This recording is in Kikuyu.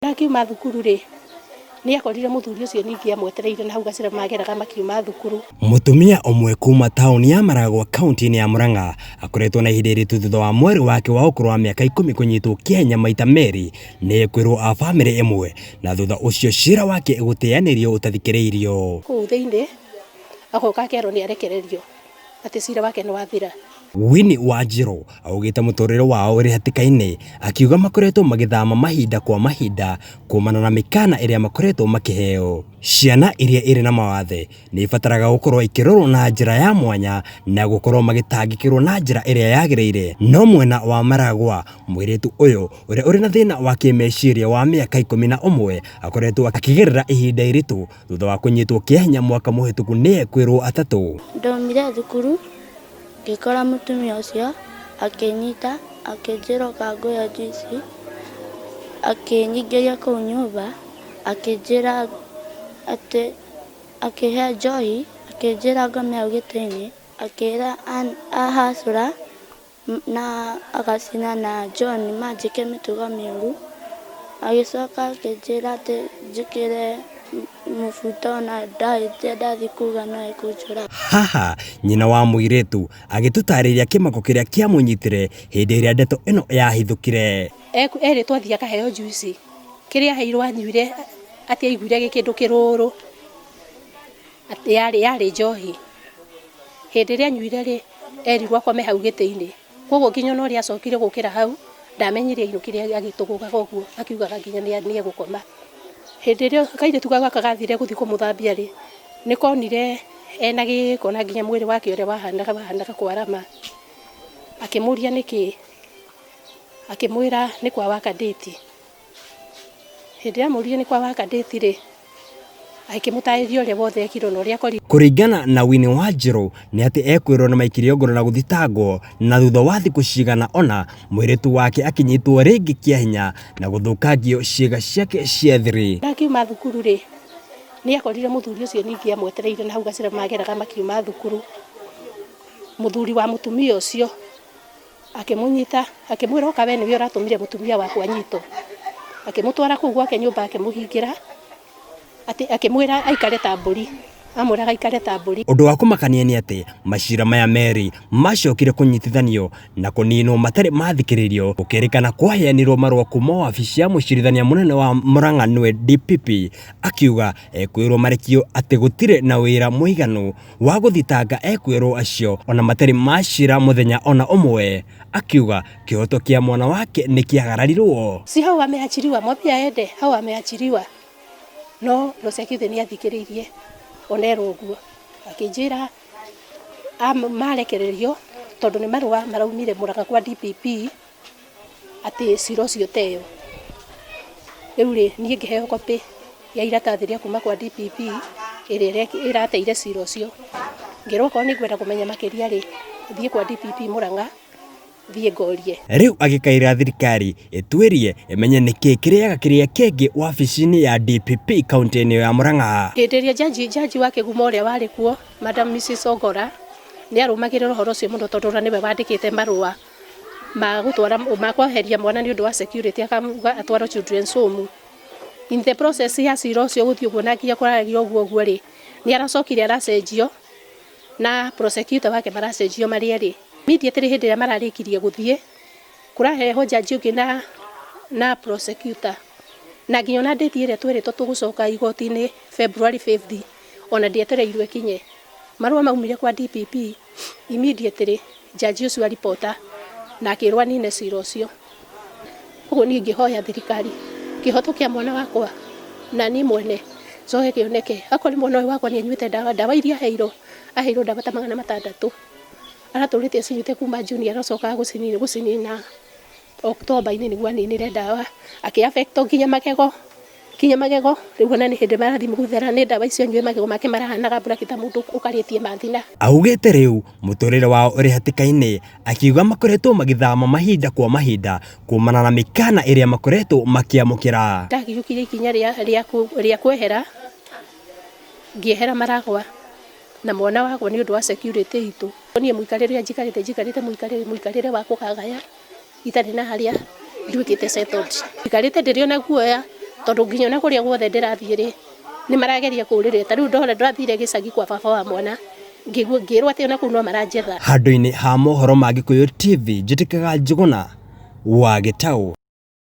Akiuma thukuru rĩ, nĩ akorire mũthuri ũcio ningĩ amwetereire na hau gacĩra mageraga makiuma thukuru. Mũtumia ũmwe kuma taũni ya Maragwa kaunti-inĩ ya Murang'a akoretwo na ihinda iritũ thutha wa mwarĩ wake wa ũkũrũ wa mĩaka ikũmi kũnyitwo Kenya maita merĩ nĩ ekwĩrwo a bamĩrĩ ĩmwe na thutha ũcio cira wake gũteyanĩrio ũtathikĩrĩirio. Kũu thĩinĩ agoka akerwo nĩ arekererio atĩ cira wake nĩ wathira. Winnie Wanjirũ augĩte mũtũrĩre wao ũrĩ hatĩka-inĩ akiuga makoretwo magĩthama mahinda kwa mahinda kumana na mĩkana ĩrĩa makoretwo makĩheo. Ciana iria irĩ na mawathe nĩ ibataraga gũkorwo ikĩrorwo na njĩra ya mwanya na gũkorwo magĩtangĩkĩrwo na njĩra ĩrĩa yagĩrĩire. No mwena wa maragwa, mũirĩtu ũyũ ũrĩa ũrĩ na thĩna wa kĩmeciria wa mĩaka ikũmi na ũmwe akoretwo akĩgerera ihinda iritũ Thutha wa kũnyitwo kĩanya mwaka mũhĩtũku nĩ ekwĩrwo atatũ. Ndaumire thukuru ngĩkora mũtumia ũcio akĩnyita akĩnjĩra ũka ngũhe njuici, akĩnyingĩria kũu nyũmba akĩnjĩra atĩ akĩhe njohi akĩnjĩra ngome hau gĩtĩ-inĩ akĩra ahacũra Na agacina na John manjĩke mĩtugo mĩũru. Agĩcoka akĩnjĩra atĩ njĩkĩre mũbuto na ndahĩtia ndathiĩ kuga no ekũnjũraga. Haha, nyina wa mũirĩtu agĩtũtarĩria kĩmako kĩrĩa kĩamũnyitire hĩndĩ ĩrĩa ndeto ĩno yahithũkire. Erĩtwo athiĩ akaheo njuici. Kĩrĩa aheirwo anyuire atĩ aiguire gĩ kĩndũ kĩrũrũ. Atĩ yarĩ, yarĩ njohi. Hĩndĩ ĩrĩa anyuire rĩ, erirwo akome hau gĩtĩ-inĩ. Kwoguo nginya ona ũrĩa acokire gũkĩra hau, ndamenyire ainũkire agĩtũgũgaga ũguo akiugaga nginya nĩ nĩ egũkoma. Hĩndĩ ĩrĩa kairĩtu kau gaka gathire gũthi kũmũthambia rĩ, nĩ konire ena gĩĩko na nginya mwĩrĩ wake ũrĩa wahanaga wahanaga kwarama. Akĩmũria nĩkĩ, akĩmwĩra nĩ kwa waka ndĩti. Hĩndĩ ĩrĩa amũrire nĩ kwa Wakadĩthi-rĩ, agĩkĩmũtaarĩria ũrĩa wothe ekirwo na ũrĩa akorirwo. Kũringana na Winnie Wanjirũ nĩ atĩ ekwĩrwo nĩ maikirĩo ngono na gũthitangwo na thutha wa thikũ cigana ona mũirĩtu wake akĩnyitwo rĩngĩ kĩa hinya na gũthũkangio ciĩga ciake cia thiri. Na akiuma thukuru-rĩ, nĩ ekorire mũthuri ũcio ningĩ amwetereire na hau gacĩra mageraga makiuma thukuru. Mũthuri wa mũtumia ũcio. Akĩmũnyita, akĩmwĩra, Ũka, wee nĩwe ũratũmire mũtumia waku anyitwo. Akĩmũtwara kũu gwake nyũmba, akĩmũhingĩra, atĩ akĩmwĩra aikare ta mbũri, amwĩraga aikare ta mbũri. Ũndũ wa kũmakania nĩ atĩ, maciira maya merĩ maacokire kũnyitithanio na kũniinwo matarĩ maathikĩrĩrio, gũkĩrĩkana kwaheanirwo marũa kuuma wabici ya Mũcirithania Mũnene wa Murang'a nĩwe DPP, akiuga ekwĩrwo marekio atĩ gũtirĩ na ũira mũiganu. wa gũthitanga ekwĩrwo acio ona matarĩ macira mũthenya ona ũmwe akiuga kĩhoto kĩa mwana wake nĩ kĩagararirwo. Si hau ameachiriwa, mwambie aende hau ameachiriwa. No prosecutor nĩ athikĩrĩirie onerwo ũguo akĩnjĩra marekererio tondũ nĩ marũa maraumire mũraka kwa DPP. atĩ cira ũcio teyo. Rĩu rĩ, niĩ ngĩheo copy ya iratathi rĩa kuma kwa DPP ĩrĩa ĩrateire cira ũcio. Ngĩrwo okorwo nĩ ngwenda kũmenya makĩria rĩ, thiĩ kwa DPP Mũrang'a, thiĩ ngorie. Rĩu agĩkaĩra thirikari ĩtuĩrie ĩmenye nĩkĩ kĩrĩaga kĩrĩa kĩngĩ wabici-inĩ ya DPP kaũntĩ-inĩ ĩyo ya Mũrang'a. Hĩndĩ ĩrĩa jaji, jaji wa kĩguma ũrĩa warĩ kuo, Madam Mrs. Ogora, nĩ arũmagĩrĩra ũhoro ũcio mũno tondũ ona nĩwe wandĩkĩte marũa. magũtwara makweheria mwana nĩ ũndũ wa security akamuga atwarwo children's home in the process ya cira ũcio gũthiĩ ũguo na nginya kwaragia ũguo ũguo rĩ nĩ aracokire aracenjio na prosecutor wake maracenjio marĩ erĩ immediately hĩndĩ ĩrĩa mararĩkirie gũthiĩ kũrahehwo jaji ũngĩ na na prosecutor na nginya ona ndĩti ĩrĩa twĩrĩtwo tũgũcoka igoti-inĩ February 5th ona ndĩetereirwo ĩkinye marũa maumire kwa DPP Immediately judge ũcio a reporter na akĩrwo anine cira ũcio. Koguo niĩ ingĩhoya thirikari kĩhoto kĩa mwana wakwa na niĩ mwene njoe kĩoneke. Akorwo nĩ mwana ũyũ wakwa nĩ anyuĩte ndawa, ndawa iria aheirwo, aheirwo ndawa ta magana matandatũ, aratũrĩte acinyuĩte kuma June, arocoka gũcinina. October inĩ nĩguo aninire ndawa akĩ affect nginya magego, nginya magego rĩu ona nĩ hĩndĩ marathiĩ gũthera nĩ ndawa icio anyue magego make marahanaga black ta mũndũ ũkarĩtie mathina. Augĩte rĩu mũtũrĩre wao ũrĩ hatĩka-inĩ akiuga makoretwo magĩthama mahinda kwa mahinda kumana na mĩkana ĩrĩa makoretwo makĩamũkĩra. Ndagĩũkire ikinya rĩa kwehera ngĩehera Maragwa na mwana wagwo nĩ ũndũ wa security itũ. Niĩ mũikarĩre ũrĩa njikarĩte njikarĩte mũikarĩre wa kũgagaya. itarĩ na harĩa nduĩkĩte settled. Njikarĩte ndĩrĩ ona guoya tondũ nginya ona kũrĩa guothe ndĩrathiĩ rĩ, nĩ marageria kũũrĩrĩra. Ta rĩu ndona ndĩrathire gĩcagi kwa baba wa mwana, ngĩigua ngĩĩrwo atĩ ona kũu no maranjetha. Handũ-inĩ ha mohoro ma Gĩkũyũ TV, njĩtĩkaga Njũgũna wa Gĩtaũ.